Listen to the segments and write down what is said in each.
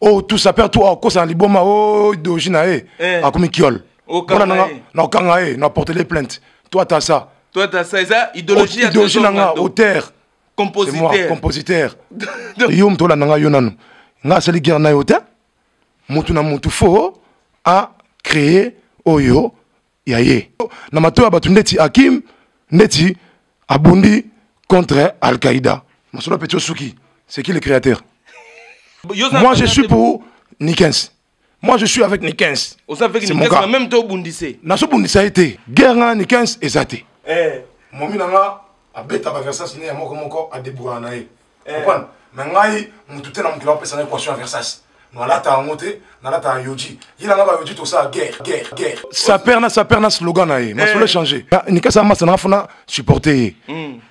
oh tout ça perd tout oh kosa na liboma oh doji na ye eh. akomi kiol mpona nanga na okanga ye na portele plainte toi ta ça toi ta ça eza idéologie ya idéologie nanga auteur compositeur moi compositeur yo moto olanda ngai yo nanu ngai asali guerre na yo te motu na motu fo a créer oyo ya ye na mato ya bato ndeti hakim ndeti abundi contre al-qaïda masolo peti osuki c'est qui le créateur moi je suis pour nikens moi je suis avec nikens même to obundise nazobundisa ye te guerre nga na nikens eza te eh. momi na nga abeta baversas ne ya moko moko adebourana na ye comprendre mais ngai mutu te na mokili apesa na équation ya versace nalata yango te nalata ya yoji ye na ngai bayoji tosala guerre guerre guerre saper na saper na slogan na ye masolo échange nikasa masa nanga fona supporter ye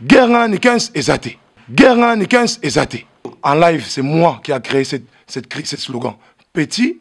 guerre ngai na nikens eza te guerre ngai na nikens eza te en live c'est moi qui a créé cette, cette, cette slogan petit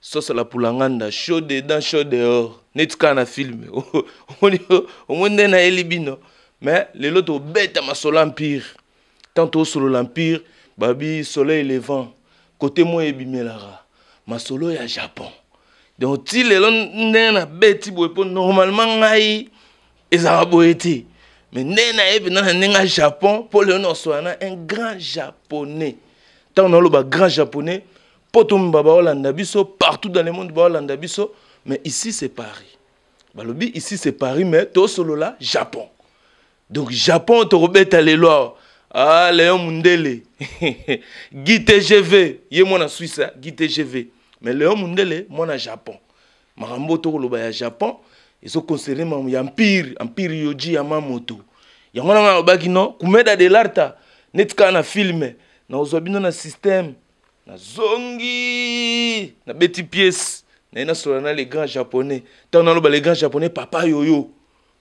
Soso la pulanganda chaud dedans chaud dehors neti kaka na film omoni nde nayeli bino mais lelo tobeta masolo empire tant tosolola empire babi soleil levant kote moi ebimelaka masolo ya japon donc ti lelo ndenge nabeti boye mpo normalement ngai ezalaka boye te mais ndenge naye mpenza na ndenge ya japon mpo lelo nakosola na un grand japonais ntango naoloba grand japonais poto mba baolanda biso partout dans le monde baolanda biso mais ici c'est paris balobi ici c'est paris mais tosolola japon donc japon tokobeta lelo awa ah leon mundele guy tgv ye mwana suisse hein? guy tgv mais leon mundele mwana japon makambo oyo tokoloba ya japon ezoconcerne makambo ya empire empire yoji ya mamoto yango nanga alobaki no kumeda de larta neti kaka na filme nakozwa bino na systeme nazongi nabeti pièce naye nasolola na le grand japonais ntango naloba le grand japonais papa yoyo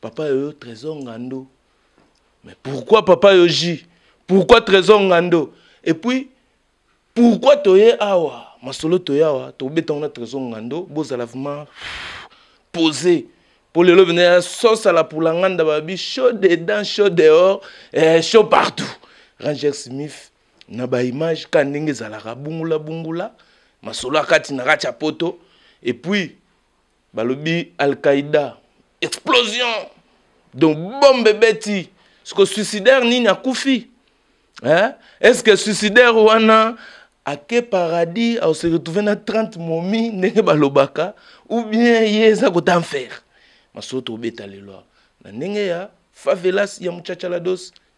papa yoyo trésor ngando mais pourquoi papa yoji pourquoi trésor ngando et puis pourquoi toye awa masolo toye awa tokobeta yango na trésor ngando bozala vraiment posé mpo lelo bina ya sosa la pulanganda babi chaud dedans chaud dehors eh, chaud partout ranger smith na ba image ka ndenge ezalaka bungula bungula masolo ya kati na kati ya poto et puis balobi al-qaïda explosion donc bombe ebeti siko suicidaire nini akufi eh? est ce que suicidaire wana ake paradis ase retrouve na 30 momi ndenge balobaka ou bien ye eza kota mfere masolo tobeta lelo na ndenge ya favelas ya muchachalados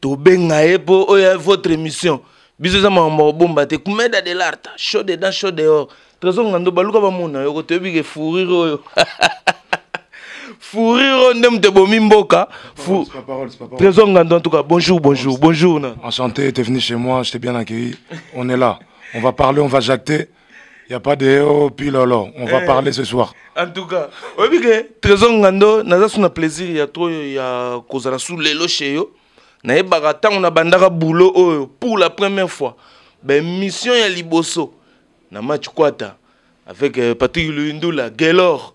tobenga ye mpo oyo ya votre émission biso eza makambo kobomba te kumeda de larta chaud dedans chaud dehors trésor ngando baluka bamona yoko toyebi ke fourire oyo fourire oyo nde moto ebomi mboka trésor ngando en tout cas bonjour bonjour bonjour na enchanté t'es venu chez moi je t'ai bien accueilli on est là on va parler on va jacter Il n'y a pas de oh, pilolo, on va eh. parler ce soir. En tout cas, oyebi ke Trésor Ngando naza sous na plaisir ya trop ya kozala sous lelo chez yo. Nayebaka ntango nabandaka boulot oyo pour la première fois. Ben mission ya liboso na match kwata avec euh, Patrick Luyindula, Gaylor.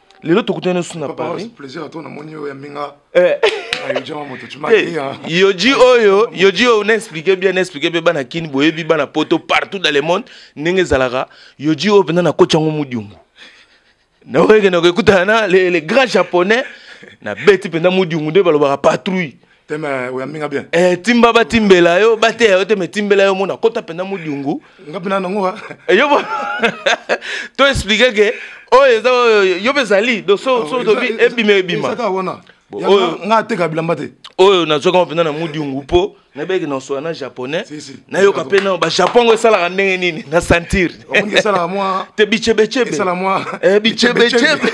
lelo tokutani osu na paris plaisir ato namoni oyo ya mbinga eh. yoji oyo yoji oyo na explike bien na explike mpe bana kini boyebi bana poto partout dans le monde ndenge ezalaka yoji oyo mpenza nakoti yango modiumbu naoyekende kokutana na le grand japonais nabeti mpenza modiumbu nde balobaka patrouille teme oyambi nga bien eh, timba batimbela yo bateya yo te me timbela yo mona kota mpenza modiungu nga mpe na nango eh, yo to explike ke oyo eza yo mpe ezali do so oh, tobi ebima ebima nga ateka bilamba te oyo nazwaka mpenza na modiungu mpo nayebaki nasola na japonais nayoka mpe na bajapon yango esalaka ndenge nini na sentire te bichebechebe bichebechebe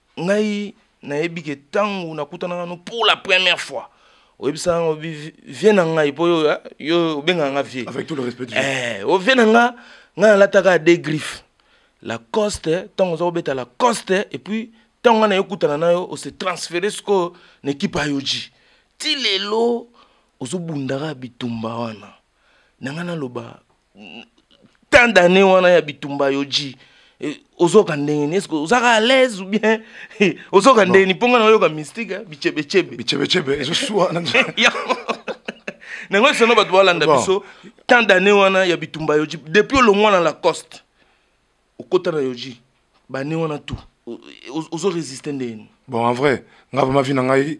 ngai nayebi ke ntango nakutanaka no pour la première fois oyebisaka ngo vie na ngai mpo yo eh, obengaka nga vie avec tout le respect eh, o vie na nga ngai nalataka de griffe lacoste ntango oza kobeta lacoste et puis ntango ngai naye okutana na yo ose transfere sikoyo na ekipe ya yoji ti lelo ozobundaka bitumba wana na ngai naloba tant d'année wana ya bitumba yo ji eh, ozoka ndenge nini eske ozaka à l'aise ou bien eh, ozoka ndenge nini mpo nga nayoka mystique eh, bichebechebe bichebechebe ezosua nango esono bato balanda biso tant d'année wana ya bitumba yo ji depuis olongwa na lacoste okota na yoji bane wana tu ozo resiste ndeni bon en vrai nga vraiment vie na ngai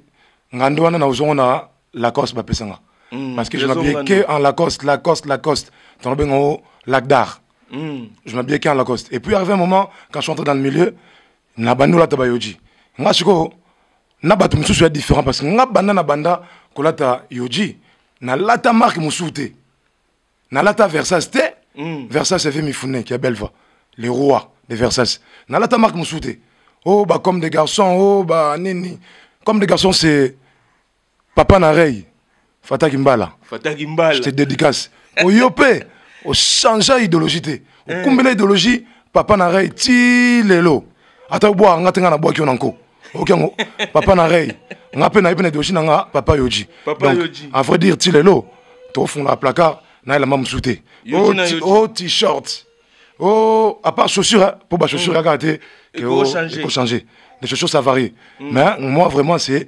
nga nde wana na ozongo na lacoste bapesa nga mm, parce que je m'habillais que en lacoste lacoste lacoste tongo benga o lac d'art mm. je m'habillais que en lacoste et puis arrivé un moment quand je suis entré dans le milieu na bandi olata bayoji nga sikoyo na bato mosusu ya différent parce que nga banda na banda kolata yoji nalata marque mosusu te nalata versace te mm. versace eve mifune kia belva le roi de versace nalata marque mosusu te o oh, bacomme de garçon o oh, ba nini comme de garçon c'est papa na rey fataki mbala fataki mbala je te dédicace oyo mpe ochangea idéologie te eh. okumbela idéologie papa na rey ti lelo ata obwaka nga te nga nabwaki yo na nko oyoki yango papa na rey nga mpe nayebi na ideologie na nga papa yoji donc à vrai dire ti lelo tofungolaka placard na elamba mosusu te oh, oh t-shirt o oh, à part chaussure mpo ba chaussure mm. kaka te ekochanger les chaussures ça varie mm. mais moi vraiment c'est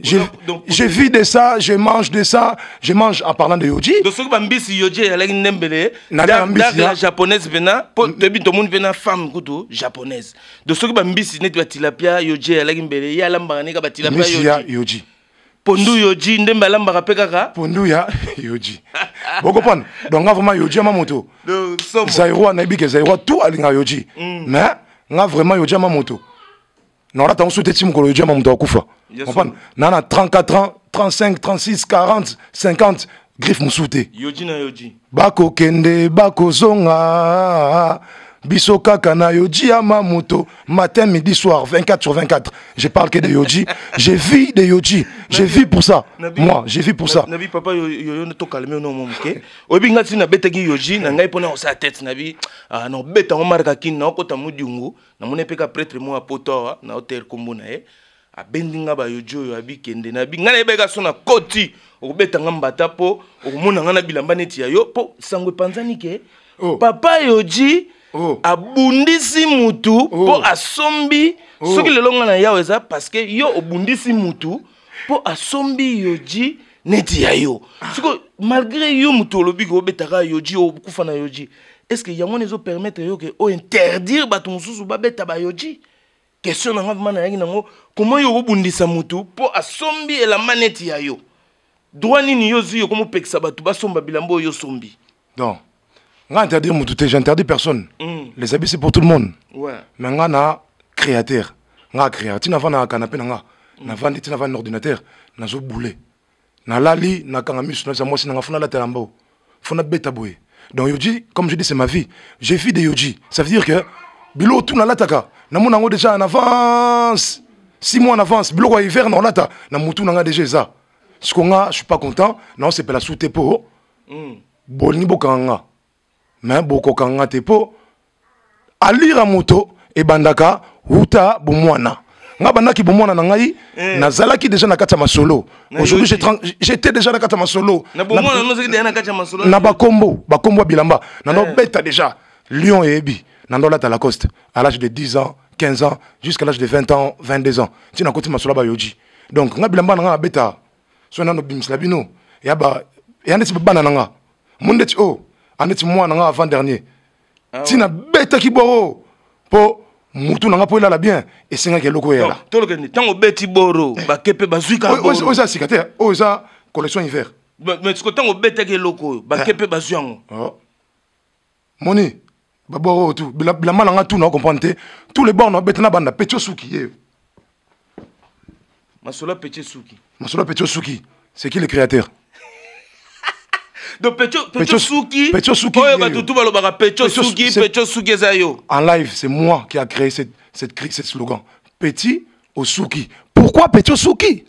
Je, donc, donc, je vis de ça, je mange de ça, je mange en parlant de yoji. Donc soki ba mbisi yoji ya laki nembele, na la mbisi la japonaise pena, po tebi to monde pena femme kutu japonaise. Donc soki ba mbisi neti ba tilapia yoji ya laki mbele, ya lamba ne ka ba tilapia yoji. Mbisi ya yoji. Pondu yoji ndembe alamba ka peka ka. Pondu ya yoji. Boko pon. Donc nga vraiment yoji ma moto. Donc somo. Zairoi na bike zairoi tout alinga yoji. Mm. Mais nga vraiment yoji ma moto. naona tango so te ti mokolo ejema moto akufa opana naa na 34 ans 35 36 40 50 griffe mosusu te bakokende bakozonga biso kaka na yoji ya mamoto matin midi soir 24 sur 24 je parle que de yoji je vis de yoji je vis pour ça nabi, moi je vis pour ça nabi papa yoyo to calme no mo moke oyebi nga tina betaki yoji na ngai pona osala tete nabi ah, na obeta ngo marka kin na okota mudungu namoni mpe ka pretre moko ya poto awa na hotel nkombo na ye abendi nga bayoji oyo abikende na bi ngai nayebaki gaso na koti okobeta nga mbata mpo okomona nga na bilamba neti ya yo mpo sango epanzani ke oh. papa yoji oh. abundisi mutu mpo oh. asombi oh. soki lelo nga na yawo eza parceke yo obundisi mutu mpo asombi yoji neti ya yo ah. sikoyo malgré yo moto olobi ke obetaka yoji okufa na yoji est ce que yango wana ezopermettre yo ke ointerdire bato mosusu babeta bayoji question na nga vraimen nayaki nango koma yo okobundisa motu mpo asombi elamba neti ya yo droit nini yo ozwi yo komopekisa bato basomba bilamba oyo osombi donc nga interdit mutu te j'interdis personne mm. les habits c'est pour tout le monde ouais. mais nga na créateur nga créateur tina vanda na canapé na nga mm. na vandi tina vanda na ordinateur nazo boule nalali nakanga misu nabisa mwasi nanga funa alatela mbao funa beta boye donc yoji comme je dis c'est ma vie j'ai vie de yoji ça veut dire que bilo tout nalataka namona yango déjà en avance six mois en avance biloko ya hiver na olata na mutu na nga déjà eza siko nga je suis pas content na osepela sute po mm. bolingi bokanga nga me bokokanga nga te mpo alira moto ebandaka wuta bomwana nga bandaki bomwana na ngai eh. nazalaki deja na kati ya masolo aujourd'hui j'étais deja na kati ya masolo na bakombo bakombo ya bilamba nando eh. beta deja lion eyebi nando alata lacoste à l'âge de 10 ans 15 ans jusqu'à l'âge de 20 ans 22 ans ntina koti masolo ya bayoji donc nga bilamba na nga nabeta so nano bimisela bino ya ba ya ndeti bana na nga mo ndeti o oh, andeti mwana na nga avant dernier ah ntina betaki boro mpo mutu na nga mpo elala bien esengaki eloko eyela tolokende ntango obeti boro eh. bake mpe bazwi kaoyo eza sika te oyo eza collection hiver mais siko ntango obetaki eloko oyo bake mpe eh. bazwi yango oh. moni babor oyo tu bilamba na nga tu na comprendre te tous les bor na bete na banda peti osuki ye masolo peti osuki masolo peti osuki c'est qui le créateur donc pecho pecho suki pecho suki oyo bato tout balobaka pecho suki pecho suki eza yo en live c'est moi qui a créé cette cette cette slogan petit osuki pourquoi pecho suki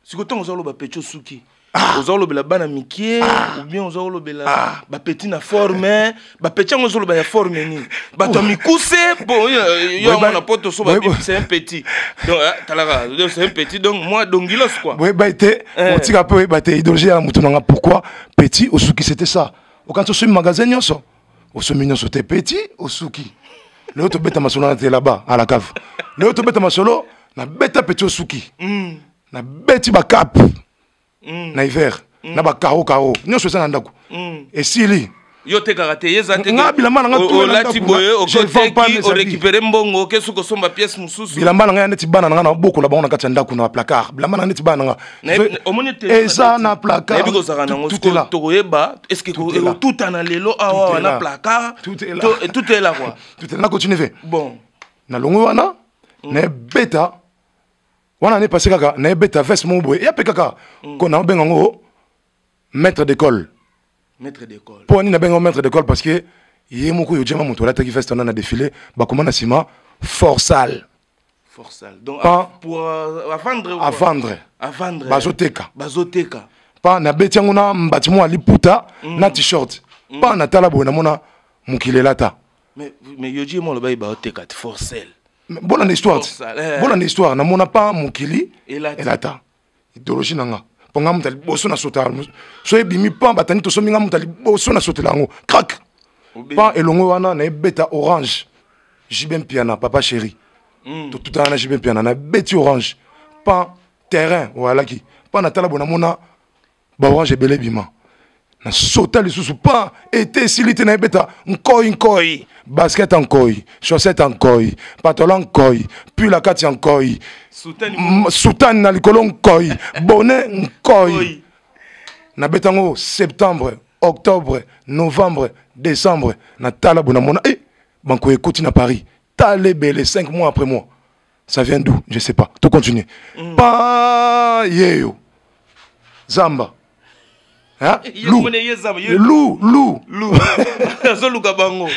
siko ntango oza oloba pecho suki ah. oza olobela bana mikie ah. oubien oza olobela ah. bapeti na forme bapeti yango ozoloba ya forme nini bato ya mikuse po yo yango na poto so babimisa un petit donc ah, talaka c'est un petit donc moi dongilos quoi boyeba ete eh. otika mpe oyeba te idologie ya motu na nga pourquoi petit osuki c'était ça okanisi osui magasin nyonso osombi nyonso te peti osuki lelo tobeta masolo na te laba à la cave lelo tobeta masolo na beta peti osuki mm. na beti ba cap mm. na hiver mm. na ba caro caro nyonso eza na ndako mm. esili yo tekaka te ye eza te nga bilamba na nga olati boye okoteki orécupere mbongo oke soki osomba pièce mosusu bilamba na nga ya neti bana na nga na bokola bango na kati ya ndako na placard bilamba na nga neti bana na nga eza na placartokoyeba estuta na lelo awa na placartnakotineve bon nalongwe wana mm. nayebeta wana nepase kaka nayebeta veste moko boye yape kaka mm. ko naobenga yango maître d'école maître d'école mpo wani nabenga maître d'école parce que ye moko yo jama moto alataki veste wana na défilé bakoma na nsima forsal avandre bazoteka bazoteka pa nabeti yango na mbati mwa liputa mm. na t-shirt mm. pa natala boye namona mokili elata mais yoji ye molobaki baoteka forcel bona na histoire ti eh. bona na histoire namona pa mokili elata ideologie na nga mpo nga moto ya liboso na sota so ebimi pan batandi tosombi nga moto ya liboso na sotela yango crak pan elongo wana na ebeta orange jibe mpiana papa chéri mm. totutana na jibe mpiana na ebeti orange pan terrain oyalaki pan natala bo namona ba orange ebele bima na sota lisusu pa ete esili te nayebeta nkoi nkoi basket ya nkoi chaussette ya nkoi patola nkoi pula kati ya nkoi sutani na likolo nkoi bone nkoi nabeta yango septembre octobre novembre décembre na talabo na mona e eh, banko ekoti na paris tala ebele 5 mois après mois ça vient d'où je sais pas to continuer mm. pa yeyo zamba Hein? Lou. Lou, Lou. Lou. azoluka bango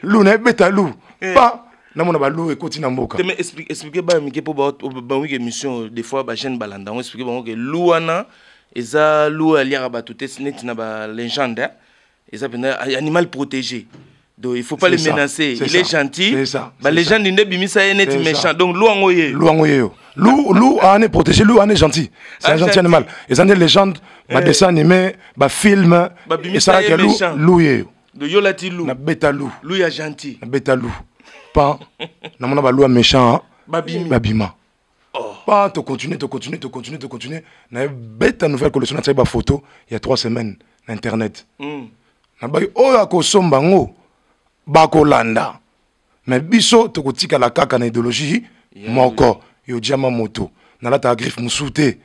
Lou na beta Lou. Eh. Pas namona balou ekoti na mboka teme explique baya mike mpo bawiki émission des fois bagene balanda yango explique bango ke lou wana eza lou aliaka bato te neti na balégende eza mpenza animal protégé donc il faut pas le menacer il est gentil ba légende nde bimisa ye neti méchant donc lou yango ye lou yango ye yo lou lou ane ah, protégé lou ane ah, gentil c'est un gentil animal eza nde légende eh. ba dessin animé ba film esalaka lou lou ye yo yo lati lou na beta lou lou ya gentil na beta lou pan namona balou ya méchant babima Oh. Pas to continuer, to continuer, to continuer, to continuer. Na beta nouvelle collection na ba photo il y a trois semaines na internet. Mm. Na ba oyo akosomba ngo ba kolanda. Mais biso to kotika la kaka na idéologie yeah, moko oui. yo diama moto. Na lata griffe musute.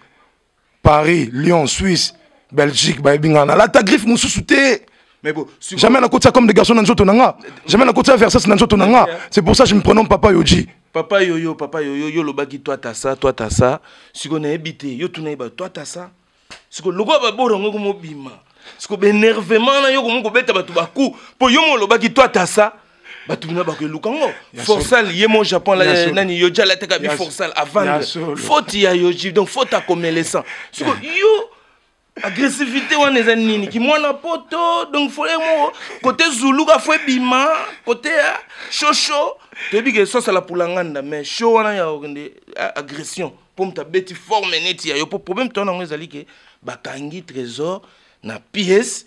paris lyon suisse belgique bayebi nga nalata griffe mosusu te Mais bon, sur... Jamais la côte ça comme des garçons dans le nanga. Jamais la côte ça versus dans le nanga. C'est pour ça que je me prénomme Papa Yoji. Papa Yoyo, Papa Yoyo, yo lobaki toi t'as ça, toi t'as ça. Si on a habité, yo tu n'as pas toi t'as ça. Si on logo ba bora ngo mo bima. Si on énervement na yo ko mo ko beta ba tu ba coup. Po yo mo lobaki toi t'as ça. bato bina bakoeluka ngo forsal ye mo japon nani yoji alataka bi forsal avandre faute ya yoji donc faute akomelesant siko yo agressivité wana eza nini kimwana poto donc fole moko kote zuluka fo ebima kote ya shosho toyebi ke sosala pulanganda mais sho wana ya okende agression mpo moto abeti forme neti ya yo mpo problème to yango ezali ke bakangi trésor na pièce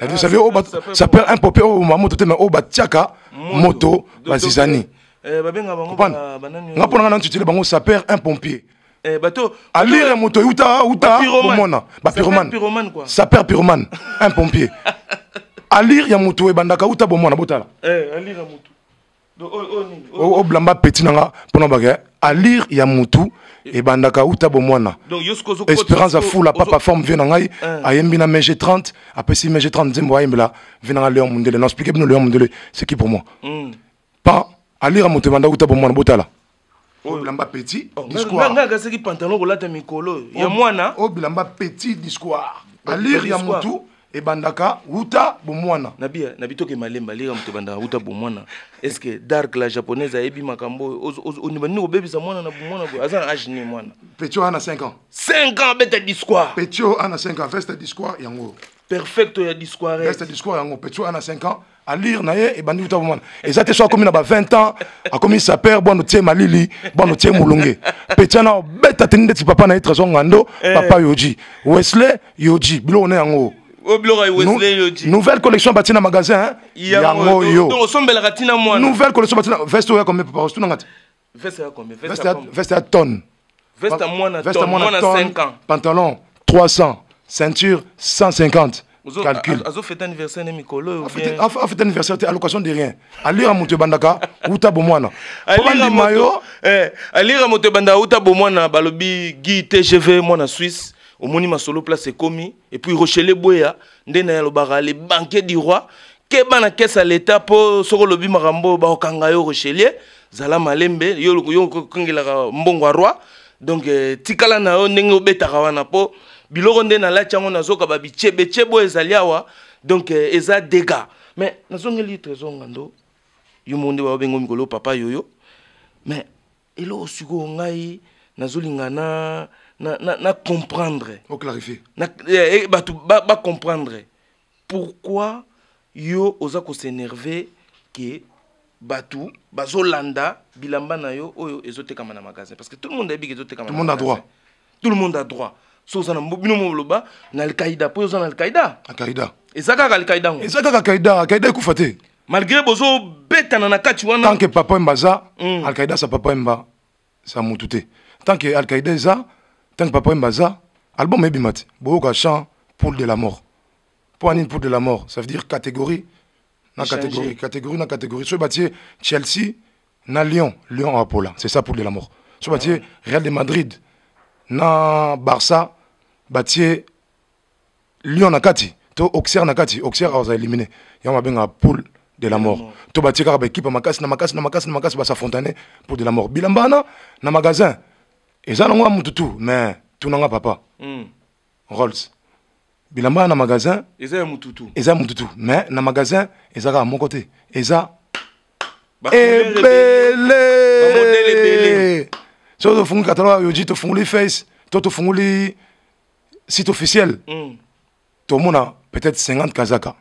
Ah, ça s'appelle un popé oyo mama moto te mais oyo batiaka moto bazizani eh, nga mpo nanga nantutile bango saper un pompier eh, alire moto euta uta komona bapyromane saper pyromane un pompier alire ya moto ebandaka uta bomwana botala eh, oblamba petit na nga mpona bake alire ya mutu ebandaka uta bomwana espérance afula papa forme vie na ngai eh. ayembi na mg 30 apesi mg 30 nzembo ayembela vie na ngai leon mundele na explike bino leon mundele c'est qui pour moi hmm. pa alire ya moto ebandaka uta bomwana botala oyo bilamba petit oh, discours nga kasaki pantalon kolata mikolo oh, ya mwana oyo oh, bilamba petit discours alire ya mutu ebandaka wuta bomwana na bia na bitoke malemba alire ya moto ebandaka wuta bomwana est ce que dark la japonaise ayebi makambo oyo onibandi kobebisa mwana na bomwana boye aza na age nini mwana petio ana 5 ans 5 ans beta discours petio ana 5 ans veste discours yango perfecto ya discours veste discours yango petio ana 5 ans allure na ye ebandi kuta bomwana eza te so akomi na ba 20 ans akomi sapeur bwano tie malili bwano tie molunge petia na obeta teni ndeti papa na ye trésor ngando eh. papa yoji wesley yoji biloko na yango nouvelle collection batie na magasin yango yo nouvelle collection batie na veste oyo ya combien papa ostunanga te Veste ya combien? Veste ya veste ya tonne. Veste ya mwana tonne, mwana 5 ans. Pantalon 300, ceinture 150. calcul azo fête anniversaire ne mikolo oyo bien a fête anniversaire te allocation de rien alira moto ebandaka uta bomwana alira moto eh alira moto ebandaka uta bomwana balobi Guy TGV mwana Suisse omoni masolo place ekomi et puis rochele boya nde na yalobaka le banquier du roi keba na kese ya leta mpo soki olobi makambo oyo bakokanga yo rochelier zala malembe yo okengelaka mbongo ya roi donc eh, tikala na yo ndenge obetaka wana mpo biloko nde nalati yango nazoka babichebechebe oyo ezali awa donc eh, eza dega mais nazongeli trésor ngando yo moko nde baobengo mikolo papa yoyo mais eloko sikoyo ngai nazolinga na, na, na, na comprendre oclarifie na, eh, eh bato bacomprendre ba pourquoi yo oza kosenerve ke bato bazolanda bilamba na yo oyo ezotekama na magasin parce que tout le monde ayebi ke ezotekama tout le monde a droit tout le monde a droit so oza na bino moloba na alkaida mpo oza na alkaida alkaida eza kaka alkaida yango eza kaka alkaida alkaida ekufa te malgré bozo betana na kati wana tant que papa emba aza mm. alkaida sa papa emba sa mutu te tant que alkaida eza tant que papa emba aza album ebima te boyoka chant poule de la mort mpo anini poule de la mort ça veut dire catégorie na catégorie catégorie na catégorie soki batie chelsea na lyon lyon apola c'est ça poule de la mort soki batie ah real de madrid na barça batie lion na kati to auxerre na kati auxerre aza éliminé yango babenga poule de la mort to batie kaka baekipe ya makasi na makasi na makasi na makasi basafontane pour de la mort bilamba wana na magasin eza nango ya motu tu mais tunanga papa mm. rolls bilamba wana na magasin eza ya motu tu eza ya motu tu mais na magasin eza kaka moko te eza ebele soki tofunguli kataloga yoji tofunguli face to tofunguli site officiel mm. tomona peut-être 50 kazaka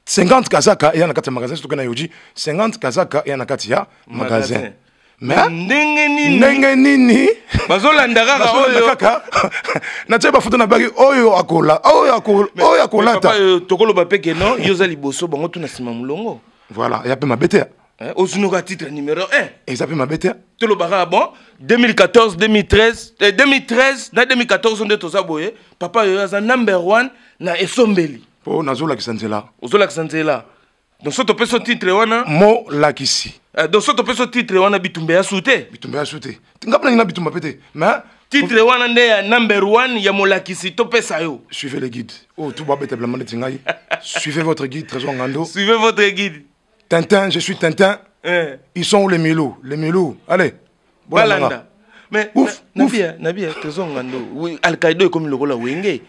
50 kazaka eya na kati ya magasin soki na yoji 50 kazaka eya na kati ya magasin, magasin. ndenge nini ndenge nini bazolanda kaka oyo kaka natie bafoto na baki oyo akola oyo akola oyo akolata tokoloba pe ke non yo oza liboso bango tuna nsima molongo voilà ya pe mabe te Eh, ozunoka titre numéro 1 eza mpe mabe te tolobaka bon 2014 2013 eh, 2013 na 2014 nde toza boye papa yoyo aza number 1 na esombeli mpo nazolakisa nzela ozolakisa nzela donc so topesi titre wana molakisi eh, donc so topesi titre wana bitumba ya su te bitumba ya su te ngai mpe nangi na bitumba mpe te mais titre wana nde ya number 1 ya molakisi topesa yo suivez le guide oyo oh, tubabeta bilamba neti ngai suivez votre guide trésor ngando suivez votre guide Tintin, je suis Tintin. Eh. Ils sont où les Milou Les Milou, allez. Balanda. Mais ouf, na, ouf. Nabia, Nabia, tozonga ndo. Oui, Al-Qaïda comme le gola wenge.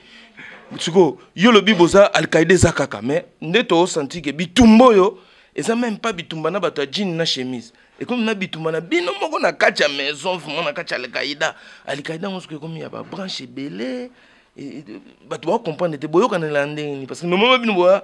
Tsuko, yo lobi boza Al-Qaïda eza kaka mais nde to senti que bitumbo yo eza même pas bitumba na bato ya jean na chemise ekomi na bitumba na bino moko na kati ya maison vraimen na kati ya alkaida alkaida yango soki ekomi ya babranche ebele bato bakokomprendre te boyokanela ndenge nini parce que nomama bino boya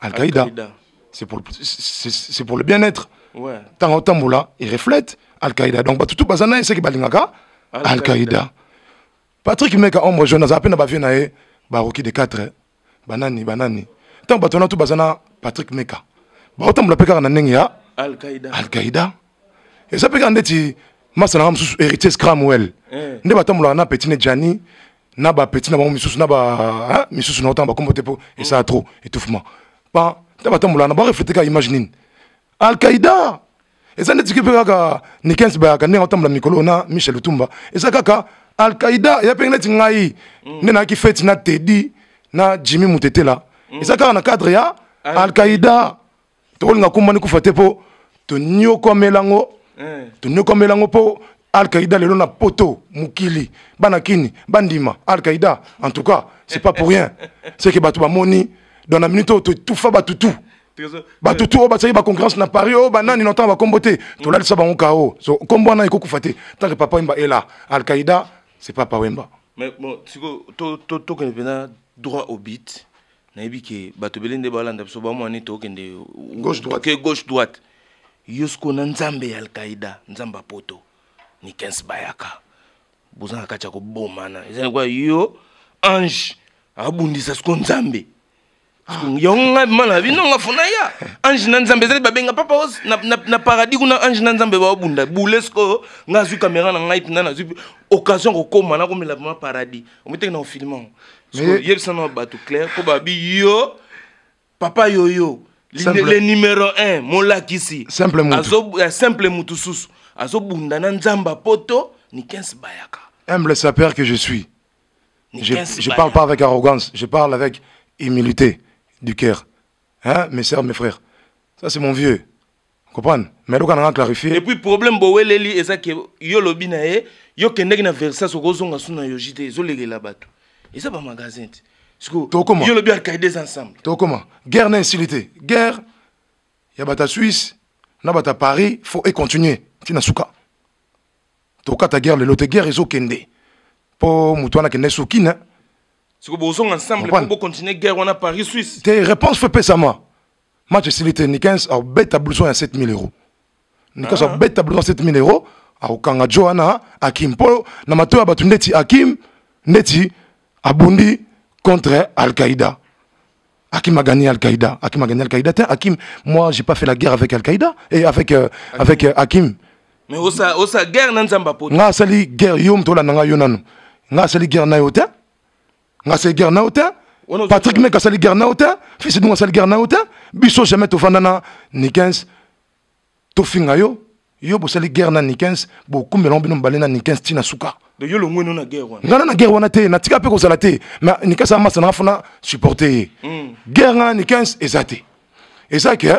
Al-Qaïda, c'est pour, c'est pour le bien-être. Ouais. Tango tambola, il reflète Al-Qaïda. Donc, tout bazana, c'est que balingaka Al-Qaïda. Patrick Meka, ombre jeune, à peine bavie nae, baroki de 4, banani, banani. Tango batona tout bazana, Patrick Meka. Ba otambola peka na nengi ya Al-Qaïda. Al-Qaïda. eza mpe kaka ndeti masa nanga mosusu héritiers cramwell eh. nde batambolaka na petit ne jani na bapetit na bango misusu na ba misusu na otanga bakombo te mpo esala mm. trop étouffement pa nta batambolaka na bareflete kaka image nini alqaida eza ndeti mpe kaka nikens bayaka ndenge atambola mikolo na michel lutumba eza kaka alqaida eya mpe neti ngai mm. nde nayaki feti na tedi na jimmy mutetela mm. eza kaka na cadre ya alqaida tokolinga kumba ni kufa te mpo tonyokwamela yango eh. tonyokwamela yango mpo alkaïda lelo na poto mokili bana kini bandima alkaïda en tout cas c'est pas pour rien c'est que bato bamoni dans la minute oyo totufa bato tout bato tu oyo basalaki baconcurrence na paris oyo banani na ntango bakombo te tolalisa bango kao so nkombo wana ekokufa te ntanke papa wemba ela alkaïda c'est papa wemba mais bon sikoyo tokende mpena droit au bit nayebi ke bato ebele nde balanda biso bamwani tokende gauche droite ke gauche droite yo sikoyo na nzambe ya alkaida nzambe apoto nikens bayaka boza na kati ya kobomana eza lokola yo ange abundisa siko nzambe ah. yango ngai mana na bino nga fona ya ange na nzambe ezali babenga papa os na, na, na paradis kuna ange na nzambe baobunda bule sikoyo nga azwi kamera na ngai mpenza nazwi occasion kokoma nakomela vraimen paradis omoteki na ofilima yebisa na bato claire mpo babi yo papa yoyo le numero 1 molakisi eh, simple motu susu azobunda na nzamba poto nikens bayaka humble sapeur que je suis je, je parle pas avec arrogance je parle avec humilité du cœur hein mes sœurs mes frères ça c'est mon vieux comprendre mais doka nanga clarifier et puis problème boweleli eza ke yo lobi na ye yo kendeki na versas okozonga su na yoji te ezolelela bato eza ba magasin te sikoyo yo lobi alkaide eza ensemble tokoma guerre na esili te guerre ya bato ya suisse na bato ya paris faut econtinue ntina suka tokata guerre lelo te guerre ezokende mpo moto wana akende sokina sikoyo bozonga ensemble mpo bocontinue guerre wana paris suisse te réponse fo epesama match esili te nikens akobeta blouson ya 7000 euro nikens ah. akobeta blouson ya 7000 euro akokanga jo wana akim mpo na mato ya bato ndeti akim ndeti abundi contre al-qaïda Hakim a gagné Al-Qaïda. Hakim a gagné Al-Qaïda. Hakim, moi, j'ai pas fait la guerre avec Al-Qaïda et avec, euh, Hakim. avec euh, Hakim. Mais osa, osa guerre na nzamba poto. Nga sali guerre yo mtola nanga yo nanu. Nga sali guerre na yo te. nga se guerre nao te patrick meka asali guerre nao te fils dunga asali guerre nao te biso jamais tovanda na nikens tofinga yo yo bosali guerre na nikens bokumbela ngo bino mibale na nikens ntina suka ngai na guerre wana te natika mpe kozala te ma nikens amasa nanga fona supporte ye hmm. guerre ngai na nikens eza te eza ke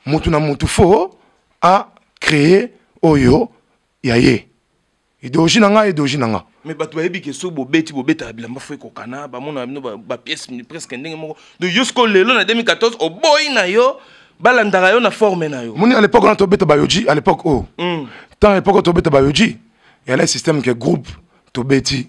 motu na motu fo a créer oyo ya ye ideologie na nga ideologie na nga mais bato bayebi ke soki bobeti bobetaka bilamba fo ekokana bamona bino bapièce presque ndenge moko donc yo sikoyo lelo na 2014 oboyi na yo balandaka yo na forme na yo moni à l'époque wana tobeta bayoji à l'époque oyo oh. hmm. temps à l'époque oyo tobeta bayoji eyalaki système ke groupe tobeti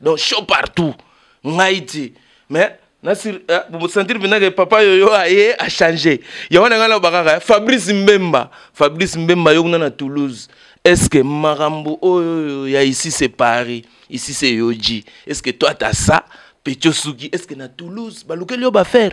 donc show partout ngai ti mais nasir eh, bosentir vinake papa yoyo aye achange yango na ngai naloba kaka fabrice mbemba fabrice mbemba yo kuna na toulouse est ce que makambo oyo ya ici c'est paris ici c'est yoji est ce que toi ta ça petio suki est ce que na toulouse balukeli yo bafaire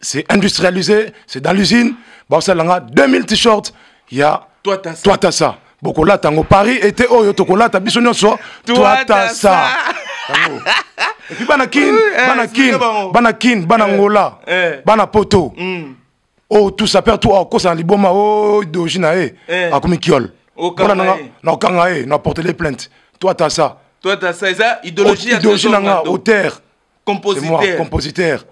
c'est industrialisé c'est dans l'usine bakosala nga 2000 t-shirt ya twatasa bokolata yango paris ete oyo tokolata biso nyonso twatasa epi bana kin eh, bana kin bana kin bana eh, ngola eh. bana poto hmm. o oh, tusa père to akosa na liboma o oh, doji na ye akomi kiole mpona nanga na okanga ye na portele plainte twatasa idéologie na nga auteur compositeur compositeur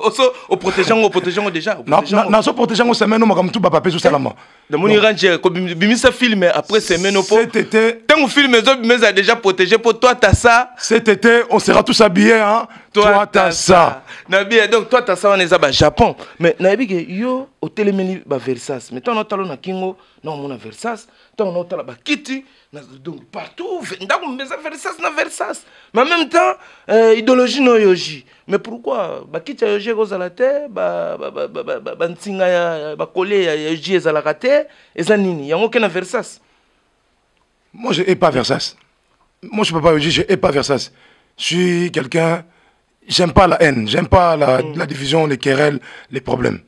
oso oprotege yango oprotege yango déjà nazo protege yango semaine omaka motu bapape ezosalama eh, namoni ranger kobimisa film après semaine opo ntango film ezobima eza déjà protégé mpo toi ta ça cet été on sera tous habillés hein toi ta ça na bien donc toi ta ça wana eza bajapon mais nayebi ke yo otelemeli baversas mais ntango naotalo na kingo naomona versas ntango naotala bakiti donc partout ndako meza versas na versas mais en même temps euh, idéologie no yoji mais pourquoi bakiti ya yoji ekozala te bansinga ya bakole ya yoji ezalaka te eza nini yango ke na versas moi je hais pas versas moi je peux pas yoji je hais pas versas je suis quelqu'un j'aime pas la haine j'aime pas la, mm. la division les querelles les problèmes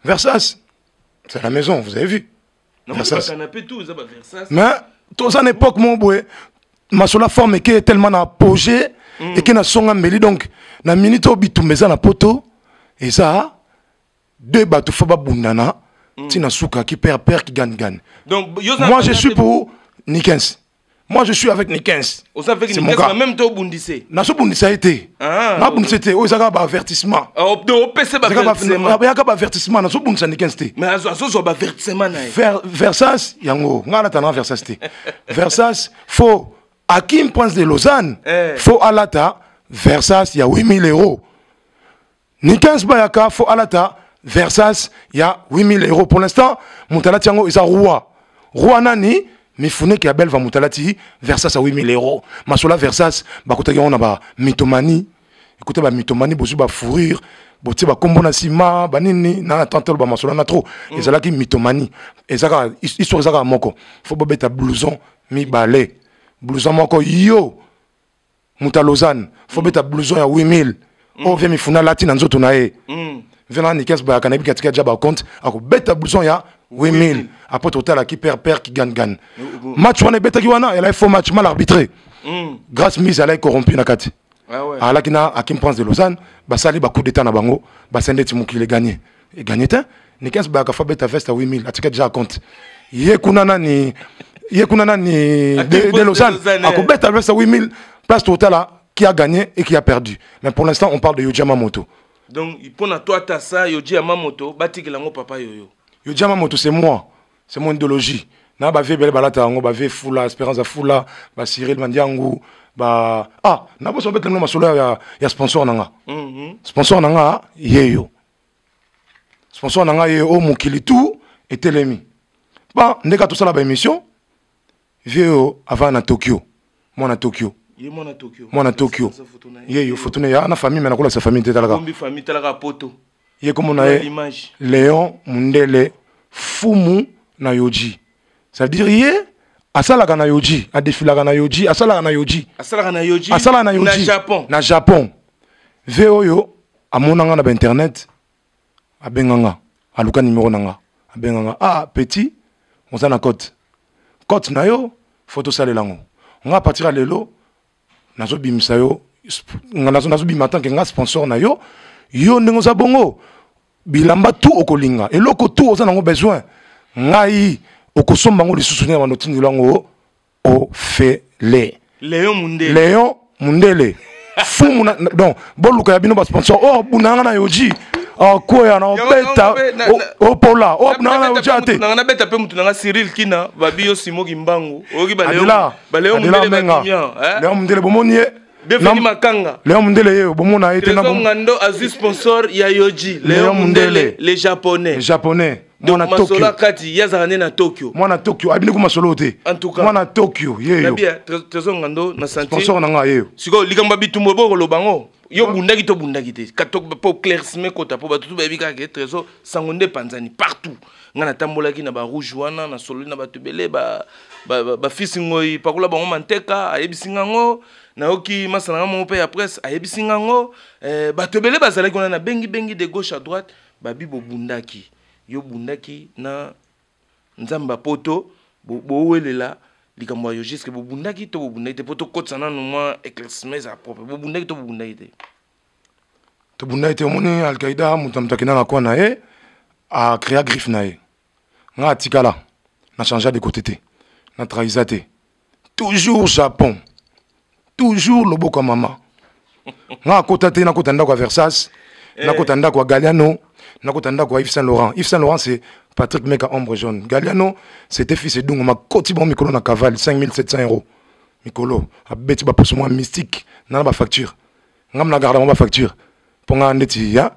versas c'est la maison vous avez vu mais toza na époque moko boye masolo forme eke tellement na apogé mm. eke na songa mbeli donc na minute oyo bitumba eza na poto eza deux bato fo babundana mm. ntina suka ki père père ki gane gane moi je suis pour nikens moi je suis avec nikens oza avec nikens na même to obundise nazo bundisa ye te ah, na bundisa ye te oyo ezaka ba avertissement ah, opesa bayaka ba avertissement nazo bundisa nikens te mais azozwa ba avertissement na ye versas yango ngai natana versas te versas fo akim prince de lausanne eh. fo alata versas ya 8000 euros Nikens Bayaka faut alata Versace ya 8000 euros pour l'instant mutalati yango eza roi roi nani mifuneki ya belva mutalati Versace ya 8000 euros masola Versace bakotaki yango na ba mitomanie écoutez ba mitomanie bozu ba fourrure botie bakombo na nsima banini na tante aloba masolo na trop mm. ezalaki mitomani eza kaka histoire eza kaka moko fo bobeta blouson mibale blouson moko yo moto ya lausanne fo beta blouson ya 8000 oyo oh, vie mifuna alati na nzoto na ye mm. vena nikes bayaka nayebi katika ja bacompte akobeta blouson ya 8000 apres totalaki père père kigangan match wana ebetaki wana elai faux match mal arbitré mm. grace mise alai corrompu na kati ah alaki na akim prince de lausanne basali bacoup d'état na bango basende ti mokili eganye eganye te nikens baka fa beta veste ya 8000 atika deja compte ye kuna nani ye kuna nani de, de lausanne akobeta veste ya 8000 place totala qui a gagné et qui a perdu mais pour l'instant on parle de yoji yamamoto donc mpo na toi ata sa yoji yamamoto batikela yango papa yoyo yoji yamamoto c'est moi c'est mon idéologie na bave ebele balata yango bave fula espérance ya fula bacyril mandiangu ba ah naboso babetela bino masolo ya, ya sponsor na nga mm -hmm. sponsor na nga yeyo sponsor na ngai ye o mokili tout etelemi ba ndeka tosala baémission vie oyo avaa na tokyo mwana tokyo mwana tokyo yeyo foto na ye ana famille me nakolakisa famille te talaka poto ye komona ye leon mundele fumu na yoji ça veut dire ye asalaka na yoji adefilaka na yoji asalaka na yoji asalaka na yoji asalaka na yoji na japon na japon ve oyo amona nga na bainternet abenga nga aluka nimero na nga abenga nga ah petit oza na cote cote na yo fo tosalela yango nga apartir ya lelo nazobimisa yo nazobima tant que nga sponsor na yo yo ndenge oza bongo bilamba tu okolinga eloko tu oza nango besoin ngai okosomba yango lisusu ndenge bando otindela yango ofele leon mundele leon mundele fumu na, donc boluka ya bino basponsor oyo oh, abunda nga na yoji akwea ah, na obeta opola oyo abunda nga na yoji ate nanga nabeta mpe motu nanga cyril kina babi yo simo kimbangu oyoki baleo Léon Mundele Menga. Hein? Léon Mundele bomoni ye. Devenu Makanga. Léon Mundele ye bomona ye tena bom. Ngando azu sponsor ya Yoji. Léon Mundele les japonais. Les japonais. Donc Masola Kati yazaka ne na Tokyo. Mwana Tokyo abini ko masolo te. En tout cas. Mwana Tokyo ye yo. Nabia Trésor Ngando na santé. Sponsor na nga ye yo. Siko likamba bitumbo boko lobango. Yo bundaki to bundaki te. Katok po clairsme kota po batutu bayebi kaka ke Trésor sango nde panzani partout. ngai natambolaki na barouge wana nasololi na bato ebele bafisi ba, ba, ba ngoi pakola bango manteka ayebisi ngai yango nayoki masana ngai moko mpe ya presse ayebisi ngai yango eh, bato ebele bazalaki wana nabengibengi de gauche à droite babi bobundaki yo obundaki na nzambe ya poto bowelela bo likambo ya yogiske bobundaki to bobundaki te mpo tokotisa nano mwa éclaircissement eza propre bobundaki to bobundaki te tobunda ye te omoni alkaida moto na moto akenda na coin na ye acrea griffe na ye ngai atikala na changea de côté te na trahisa te toujours japon toujours loboko ya mama ngai akota te nakota ndako ya versas eh. nakota ndako ya galiano nakota ndako ya yves saint laurent yves saint laurent c'est patrick meka ombre jaune galiano c'était fils edungo makoti bango mikolo na cavale 5700 euros mikolo abeti baposo mwa mystique nana bafacture nga mna garda mwa bafacture mpo nga ndeti ya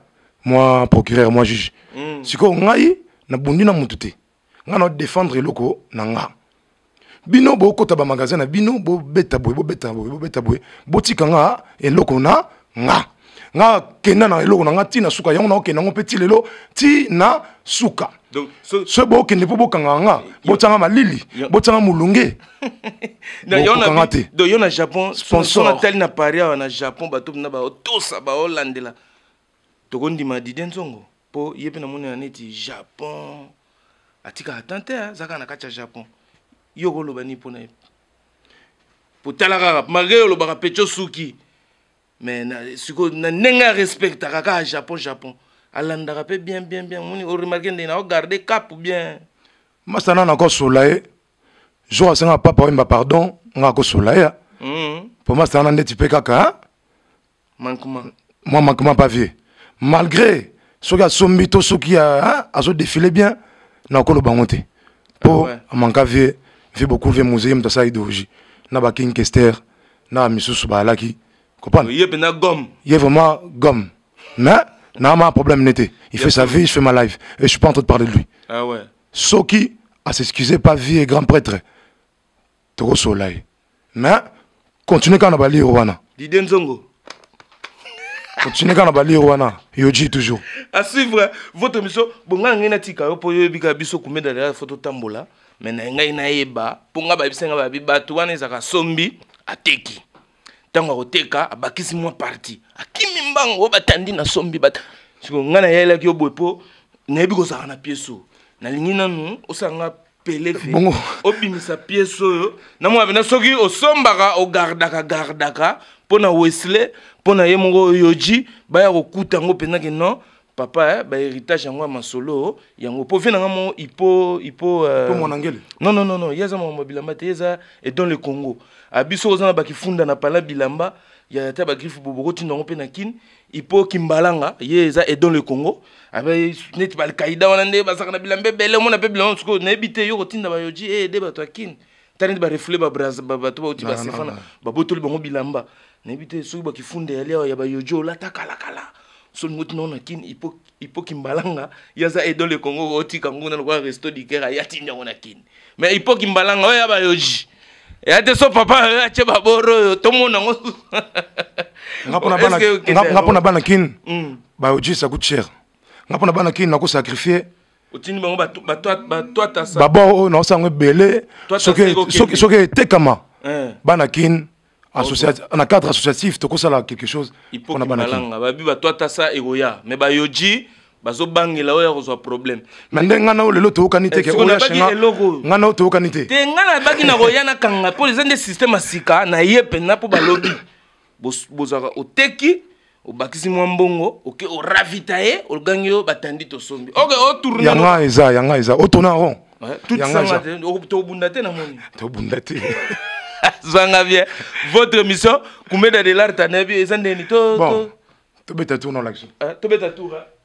mwa procureur mwa juge mm. sikoyo ngai nabundi na motu te ngai na défendre eloko na nga bino bokota bamagasin na bino bobeta boye bobeta boye bobeta boye botika nga eloko na nga nga kenda na eloko na nga ti na suka yango naokenda yango mpe ti lelo ti na suka donc so, so bokende mpo bokangaka nga botyanga malili botyanga molunge bokokanga te donc yo na japon sponsor natali na paris awa na japon bato na baotosa baolandela tokondima didie nzongo mpo ye mpe namoni na neti japon atikaka tan te azalaka na kati ya japon yo okoloba nini mpo na ye potala kaka malgre olobaka pecho suki mais na siko na ndenge ya respectaka kaka japon japon alandaka mpe bien bien bien moni oremarke ndenge nao garde cap bien masana nakosola ye jour asenga papa oyemba pardon nga akosola ye mpo mm-hmm. masana ndeti mpe kaka mankuma mwa mankuma pa vie malgré soki asombi to soki azodefile bien nakoloba yango te mpo ah amanka vie vie beaucoup vie moseye moto asala idéologie na baking kester na misusu bayalaki comprendre ye pena gomme ye vraiment gomme mais n'a ma problème n'était il fait sa vie je fais ma life et je suis pas en train de parler de lui ah ouais soki à s'excuser pas vie et grand prêtre toko soleil mais continuer quand on a bali wana Didier Nzongo continue kaka na balire wana yoji toujours à suivre votre émission bonga ngai natika yo mpo yo oyebika biso kumedalera fo totambola me na ngai nayeba mpo ngai bayebisa ngai babi bato wana ezalaka sombi ateki ntango akoteka abakisi mwa parti akimi mbango oyo batandi na sombi bat... siko ngai nayelaki yo boye mpo nayebi kozalaka na pieso nalingi nanu osala nga peleve obimisa piese oyo namona mpena soki osombaka ogardaka gardaka mpo na wesle mpo na ye moko oyoji baya kokuta yango mpenza ke non papa eh, ba héritage yango ya masolo yango po vie na nga mo ipo ipo euh... po mwana ngele non non non non yeza mama bilamba te yeza et dans le Congo abiso ozana ba kifunda na pala bilamba ya ta ba griffe bobo ko tinda ngo pe na kin ipo kimbalanga ye eza et dans le Congo abe net ba alkaïda wana nde ba saka na bilamba belle mona pe bilamba suko na ebite yo ko tinda ba yoji eh de ba to kin tala nde barefule bato bauti basefana babotoli bango bilamba nayebi te soki bakifunda yali awa ya bayojo olata kalakala solingo tina ona kin ipo kimbalanga ye aza edole kongo otika nguna lokola resto diker aya tindi yango na kin mais ipo kimbalanga oyo ya bayoji eya te so papa oyo atye baboro oyo tomona yango nga mpo na bana kin mm. bayoji saku cher nga mpo na bana kin nakosacrifie otindi bango batwatasa babor oyo naosa yango ebele soki etekama eh. bana kin na cadre associatif tokosala quelque chose mpona bana kin babi batwatasa ekoya me bayoji bazobangela oyo akozwa problème na nde ngai nao lelo toyokani te eh, ngai nao toyokani te te ngai nabaki na koya na kanga mpo eza nde système ya sika na ye mpenza mpo balobi bozalaka oteki obakisi mwa mbongo oke oravita ye ogangi yo batandi tosombi oke otourne yanga eza yanga eza otona ron tobunda te na moni tobunda te zanga bien votre mission kumeda de l'art anayebi eza ndeni to tobeta tour na olakisi tobeta tour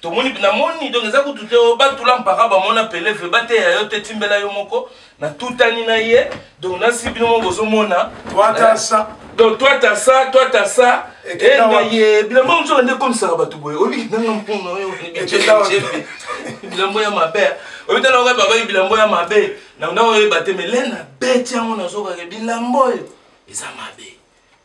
tomoni namoni donc eza kutu te oh, batula mpaka bamona peleve bateya yo te timbela yo moko natutani na ye donc nasi bino moko bozomona eh, donc toi ta ça toi ta ça engaye bilambo mosuka nde ekomisaka bato boye oyebi nanga mpona oyo bilambo ya mabe oyebi tala okoyeba bayi bilambo ya mabe na nda oyeba te me lena beti yango nazokake bilambo oyo eza mabe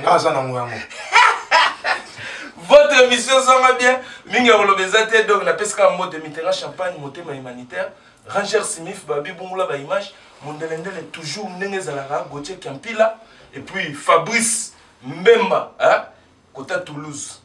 nga aza nango yango votre émission ezanga bien mingi ya koloba eza te donc napesi kaka mbote mitenga champagne motema humanitaire ranger simif babi bungula baimage mondelendele toujours ndenge ezalaka gautier kiampila et puis fabrice mbemba hein? kota toulouse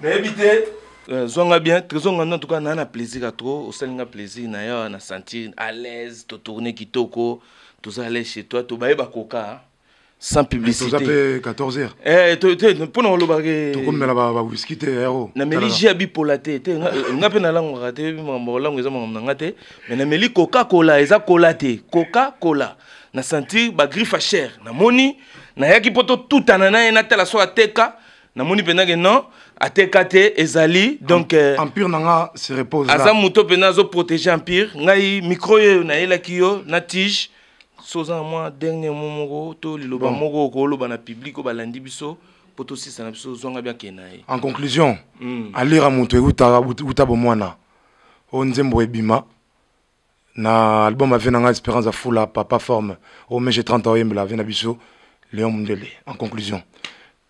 nayebi te euh, zwa nga bien trésor ngando en tout cas naa na plaisir ya trop osali nga plaisir na yo na sentir à l'aise totourne kitoko toza à l'aise chez toi tobaye bakoka hein. sans publicité toza mpe 14 heures eh, to, te mpo na kolobaka eh, tokomela bawiski te yaro eh, nameli ji ya bipola te te nga mpe nalangwaka te yebi makambo kolango eza makambo na nga te mais nameli coca cola eza kola te coca cola na sentir bagriffe ya cher namoni nayaki mpo totutana na ye natala so ateka namoni mpenza ke non ateka te ezali donc euh, empire na nga se repose aza moto mpenza azoprotege empire ngai micro oyo nayelaki yo na tige so oza na mwa dernier mo moko to liloba moko okoloba na publike oyo balandi biso mpo tosisa na biso ozwanga biake na ye en conclusion mm. alira moto euta bomwana oyo nzembo ebima na album ave na ngai espérance afula papa forme oyo mege 30 oyembela ave na biso leon mundele en conclusion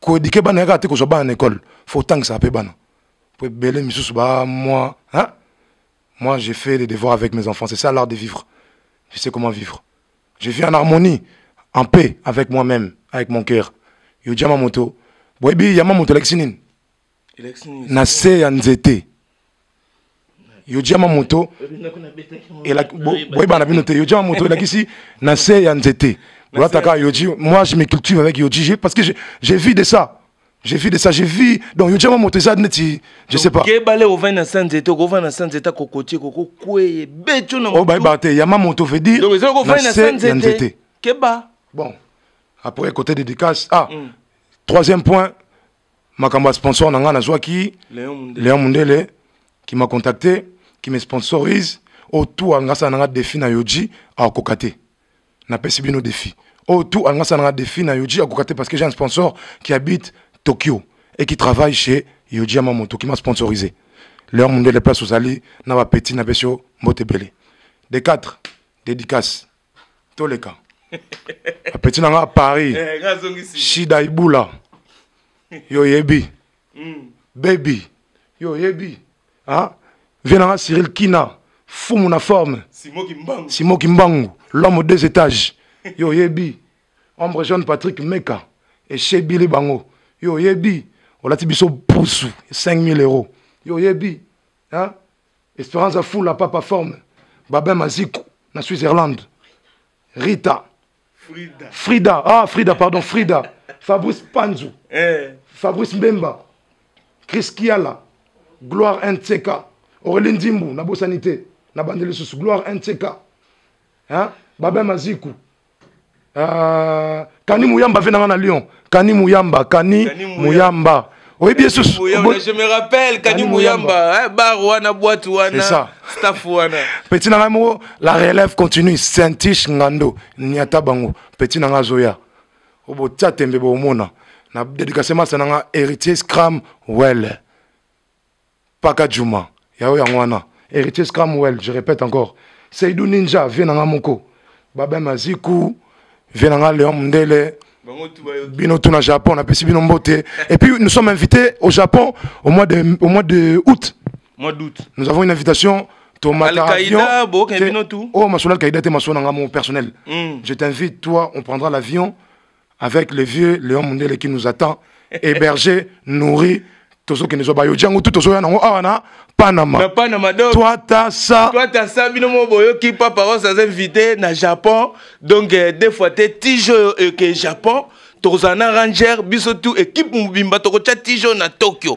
koedike bana yaka te kozwa bana na ekole fo otangisa mpe bana mpo ebele misusu ba moi hein? moi j'ai fait les devoirs avec mes enfants c'est ça l'art de vivre je sais comment vivre je vis en harmonie en paix avec moi-même avec mon cœur yo jama moto boyebi yama moto alakisi nini na se ya nzete yojama moto boyebana bino te yojama moto elakisi na se ya nzete olataka yoji moi je me cultive avec yoji parce que j'ai vu de ça j'ai vu de ça j'ai vu donc yojama moto eza neti je sais pas kebale ovandi na sa nzete okovanda na sa nzete akokotie kokokweye beto na obayebaka te yama moto veut dire na se ya nzete keba bon après côté dédicace ah mm. troisième point makambo ya sponsor na ngai nazwaki leon mundele qui m'a contacté qui me sponsorise oyo tu alinga asala na ngai défi na yoji akokoka te napesi bino défi oyo tu alinga asala na ngai défi na yoji akokoka te parce que j'ai un sponsor qui habite tokyo et qui travaille chez yoji yamamoto qui m'a sponsorisé leon mundele place ozali na bapeti napesi yo mbote ebele de 4 dédicace toleka apeti na nga paris eh, shida ibula yo oyebi hmm. baby yo oyebi ah? vie na nga cyril kina fumu na forme simo kimbangu l'homme deux étages yo oyebi ombre jeune patrick meka eshebili bango yo oyebi olati biso pusu 5000 euro yo oyebi hein? esperance afula papa forme babin maziku na switzerland rita frida, frida. ah frida pardon frida fabrice panzu eh. fabrice mbemba chris kiala gloire ntk aurelie nzimbu nabosani te nabandi lisusu gloire ntk hein? babin maziku Uh, kani muyamba afe nanga na lyon kani muyamba kani, kani muyamba oyebi esusu je me rappelle kani muyamba eh, bar wana boite wana staff wana petit na ngai moko la relève continue saintiche ngando niata bango petit na ngai azoya obotia tembe bomona na dedikase masa na ngai héritier scram wele Paka Juma, ya yo yango wana. Heritier Scramwell, je répète encore. Seydou Ninja, vieux na nga moko. Babin Maziku, vieux na nga Léon Mundele. Bino tout na Japon, na pesi bino mbote. Et puis nous sommes invités au Japon au mois de, au mois de août. Mois d'août. Nous avons une invitation Oh, ma soeur Al-Qaïda, t'es ma soeur, mon personnel. Hmm. Je t'invite, toi, on prendra l'avion. avec le vieux Léon Mundele qui nous attend, hébergé, nourri, tozo kende zo bayo jango tout tozo ya nango awa ah, na Panama. Na Panama donc. Toi ta ça. Toi ta ça bino mo boyo ki papa was as invité na Japon donc euh, des fois te tijo euh, que Japon tokozala na ranger biso tout équipe mobimba tokotya tijo na tokyo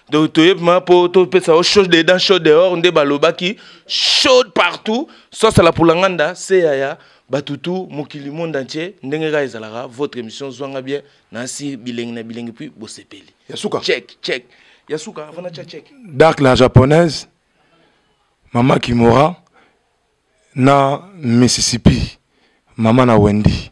donc toyebi ma mpo topesa yo chose dedans chose dehors nde balobaki chaude partout sosala pulanganda se yaya bato tu mokili monde entier ndenge kaka ezalaka votre émission zwanga bien nasi bilengi na bilengi puis bosepeli ya suka check check ya suka avana cha check dark la japonaise mama kimora na mississippi mama na wendy